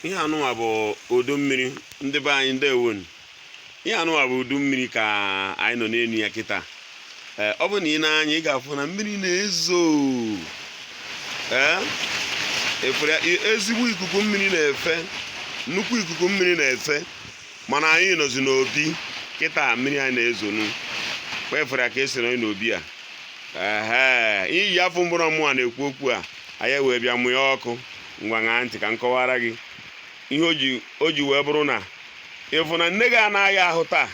ihe anụnwa bụ udu mmiri ndị be anyị ndewonu ihe anụnwa bụ udu mmiri ka anyị nọ n'enu ya kịta ee ọ bụ na i nee anya ị ga-afụ na mmiri na-ezo ee ị fụrụ ezigbo ikuku mmiri na-efe nnukwu ikuku mmiri na-efe mana anyị nọzi n'obi kịta mmiri anyị na-ezonu kpefere ka esiri anyị n'obi a ee iyi afọ mgbụrụ mmụọ na-ekwu okwu a anyị wee bịa mụọ ọkụ ngwa ṅaa ntị ka m kọwara gị ihe o ji wee bụrụ na ị fụ na nne gị na-aya ahụ taa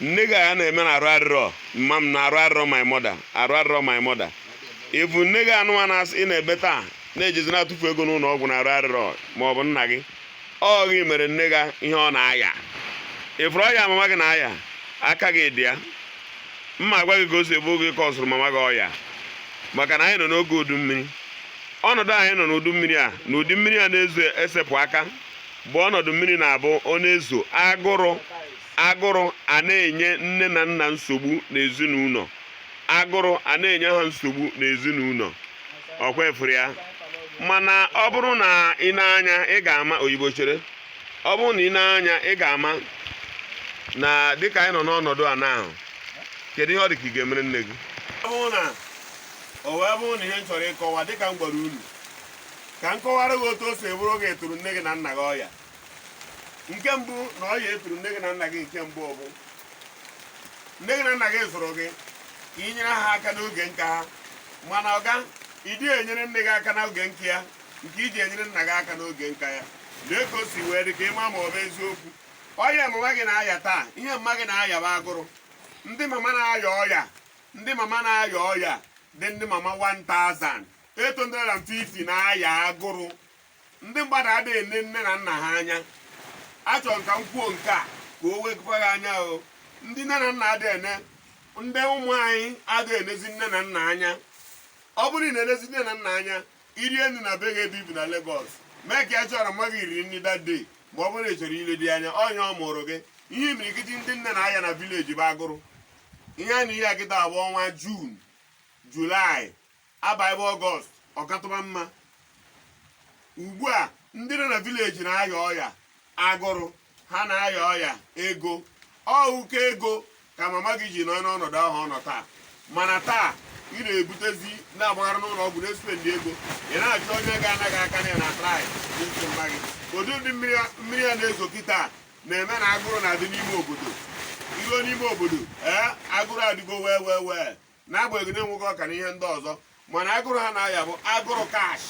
nne gị a na-eme na arụ arịrọ mama m na arụ arịrọ my mother arụ arịrọ my mother ị fụ nne gị anụnwa asị ị na-ebe taa na-ejezi na-atụfu ego n'ụnọ ọgwụ na arụ arịrọ ma ọ bụ nna gị ọ gị mere nne gị ihe ọ na-aya ị fụrụ ọya mama gị na-aya aka gị dị ya m ma agwa gị ka o si abụ ọ gị kọzụrụ mama gị ọya maka na anyị nọ n'oge udu mmiri ọnọdụ anyị nọ n'udu mmiri a na ụdị mmiri a na-ezo esepụ aka bụ ọnọdụ mmiri na-abụ ọ na-ezo agụrụ agụrụ a na-enye nne na nna nsogbu n'ezinụnọ agụrụ a na-enye ha nsogbu n'ezinụnọ ọkwa ị fụrụ ya mana ọ bụrụ na i nee anya ị ga-ama oyibo chere ọ bụrụ na i nee anya ị ga-ama na dịka anyị nọ n'ọnọdụ a n'ahụ kedu ihe ọ dị ka ị ga-emere nne gị ọ bụrụ na o wee bụrụ na ihe m chọrọ ịkọwa dịka m gwara unu ka m kọwara gị otu o si bụrụ ọ gị turu nne gị na nna gị ọya nke mbụ na ọya i turu nne gị na nna gị nke mbụ bụ nne gị na nna gị zụrụ gị ka ị nyere ha aka n'oge nka ha mana ọga ị dị enyere nne gị aka n'oge nka ya nke i ji enyere nna gị aka n'oge nka ya nee ka o si wee dị ka ị ma ma ọ bụ eziokwu ọya mama gị na-aya taa ihe mama gị na-aya bụ agụrụ ndị mama na-aya ọya ndị mama na-aya ọya dị ndị mama 1000 850 na-aya agụrụ ndị mmadụ ada ene nne na nna ha anya achọrọ m ka m kwuo nke a ka o wekwa gị anya o ndị nne na nna ada ene ndị ụmụ anyị ada enezi nne na nna anya ọ bụrụ na ị na-enezi nne na nna anya i rie nni na be gị ebe i bi na Lagos make sure na mama gị riri nni that day ma ọ bụrụ na ị chọrọ ile dị anya onye mụrụ gị ihe imirikiti ndị nne na-aya na village bụ agụrụ ihe a nọ n'ihe a kịta bụ ọnwa June July abaibe ọgọst ọ katụba mma ugbu a ndị nọ na vileji na-aya ọya agụrụ ha na-aya ọya ego ọ ụkọ ego ka mama gị ji nọ n'ọnọdụ ahụ ọ nọ taa mana taa ị na-ebutezi na-agbagharị n'ụlọ ọgwụ na-espendi ego ị na-achọ onye ga-ana gị aka na ya na-atraị n'isi mma gị ụdị ụdị mmiri a- mmiri a na-ezo kịta na-eme na agụrụ na-adị n'ime obodo i ruo n'ime obodo ee agụrụ adịgo wee wee wee n'agbanyeghị na e nwego ọka na ihe ndị ọzọ mana agụrụ ha na-aya bụ agụrụ kash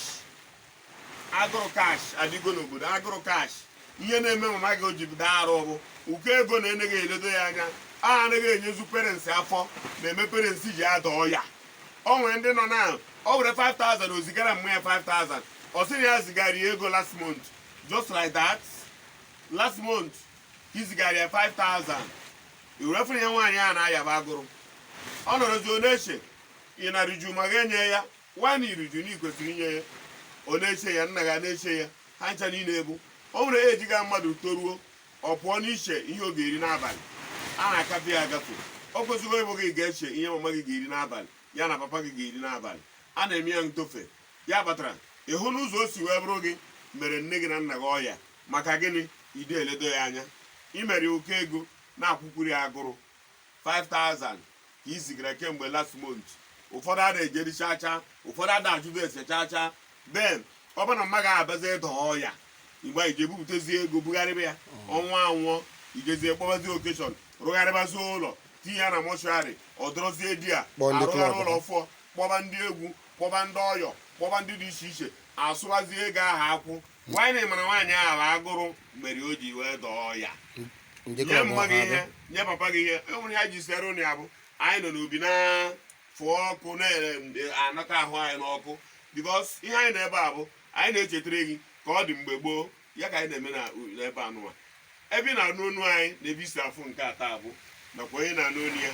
agụrụ kash adịgo n'obodo agụrụ kash ihe na-eme mama gị o ji bido arụ bụ ụkọ ego na eneghị eledo ya anya anaghị enyezu parents afọ na-eme parents ji ada ọya o nwere ndị nọ na o were 5000 o zigara mma ya 5000 ọ sị na ya zigara ya ego last month just like that last month i zigara ya 5000 iwerefere ya nwaanyị a na-ayaba agụrụ ọ nọrọzi ọ na-eche ị na-eriju ma ga-enye ya nwaanyị i riju na i kwesịrị inye ya ọ na-eche ya nna gị na-eche ya ha ncha niile ebe o nwere age ga mmadụ toruo ọ pụọ n'iche ihe ọ ga-eri n'abalị a na-akafe ya akafe o kwesịgo ịbụ gị ga-eche ihe mama gị ga-eri n'abalị ya na papa gị ga-eri n'abalị a na-eme ya ntofe ya kpatara ị hụ n'ụzọ o si wee bụrụ gị mere nne gị na nna gị ọya maka gịnị i de eledo ya anya i mere ụkọ ego nakwa ụkọ nri agụrụ 5000 ka i zigara kemgbe last month ụfọdụ ada ejeri chaa chaa ụfọdụ ada ajụdo ese chaa chaa then ọ bụrụ na mma gị abazi ịda ọya mgbe i je ebupụtazi ego bugharịba ya mm. ọnwa anwụọ i jezie kpọbazi okeshọn rụgharịbazi ụlọ tinye ya na mọshụarị ọ dọrọzie dia arụgharị ụlọ ọfụọ kpọba ndị egwu kpọba ndị ọyọ kpọba ndị dị iche iche asụwazie ego ahụ akwụ while ị mara nwaanyị ahụ agụrụ mere o ji wee daa ọya nye mma gị ihe nye papa gị ihe e nwere ha ji sere ụnụ ya bụ anyị nọ n'obi na-afụ ọkụ na-anata ahụ anyị n'ọkụ bikos ihe anyị n'ebe a bụ anyị na-echetara gị ka ọ dị mgbe gboo ya ka anyị na-eme n'ebe anụwa ebe ị na-anụ onu anyị na ebe i si afụ nke a taa bụ nakwa onye na-anụ onu ya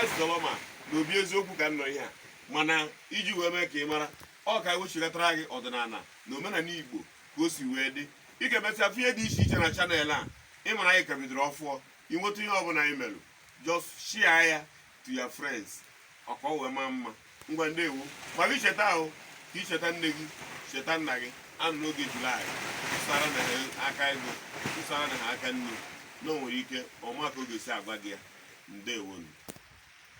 ezelọma na obi eziokwu ka nnọ ihe a mana iji wee mee ka ị mara ọ ka e wechigatara gị ọdịnala na omenala igbo ka o si wee dị ị ga-emesịa fụ ihe dị iche iche na chanel a ị mara anyị ka bidoro ọfụọ i nweta ihe ọbụla anyị merụ just shia ya to your friends ọ ka o wee maa mma ngwa ndewo mara icheta ahụ ka i cheta nne gị cheta nna gị a nọ n'oge julaị tụsara na ha aka ego tụsara na ha aka nni na o nwere ike ọ ma ka ọ ga-esi agwa gị ya ndewonu